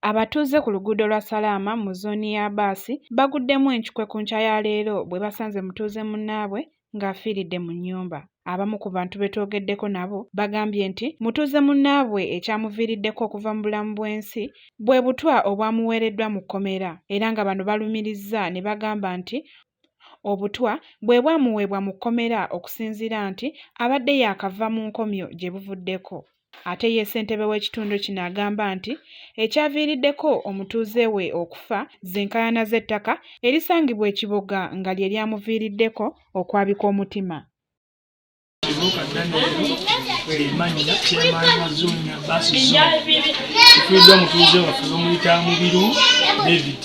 Abatuuze ku luguudo lwa Salaama mu zooni ya Baasi baguddemu encukwe ku nkya ya leero bwe basanze mutuuze munnaabwe ng'afiiridde mu nnyumba. Abamu ku bantu be twogeddeko nabo bagambye nti mutuuze munnaabwe ekyamuviiriddeko okuva mu bulamu bw'ensi bwe butwa obwamuweereddwa mu kkomera era nga bano balumirizza ne bagamba nti Obutwa bwe bwamuweebwa mu kkomera okusinziira nti abadde yaakava mu nkomyo gye buvuddeko. Ate ye ssentebe w'ekitundu kino agamba nti ekyaviiriddeko omutuuze we okufa z'enkaayana z'ettaka erisangibwa e Kiboga nga lye lyamuviiriddeko okwabika omutima. tufiiddwa mutuuze waffe bamuyita mubiru david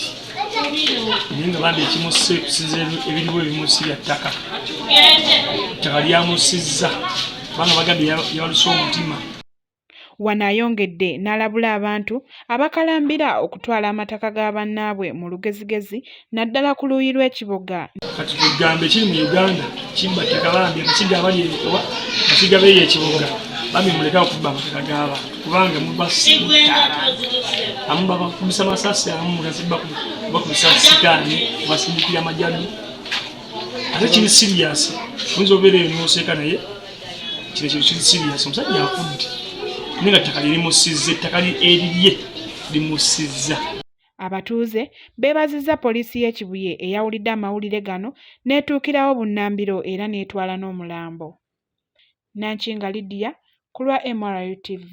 naye nga bambi ekimusse kusiza ebiriwo ebimusi bya ttaka ttaka lyamusizza kubanga bagambye yabaluse omutima Wano ayongedde n'alabula abantu abakalambira okutwala amataka ga bannaabwe mu lugezigezi naddala ku luuyi lw'e Kiboga. Kati tugambe kiri mu Uganda kimba tekalambye kakiga abali ebikowa kakiga beeyo ekiboga bambi muleke okubba amataka g'abantu kubanga mubasiitaala amu babakubisa masasi amu mugazibba bakubisa sitaani basindikira majani ate kiri siriyasi oyinza obeera eyo noseeka naye kino kintu kiri siriyasi omusajja afudde naye nga ttaka lirimusizza ettaka erirye limusizza abatuuze beebazizza poliisi y'e kibuye eyawulidde amawulire gano n'etuukirawo bunnambiro era n'etwala n'omulambo nankinga lydia ku lwa mrutv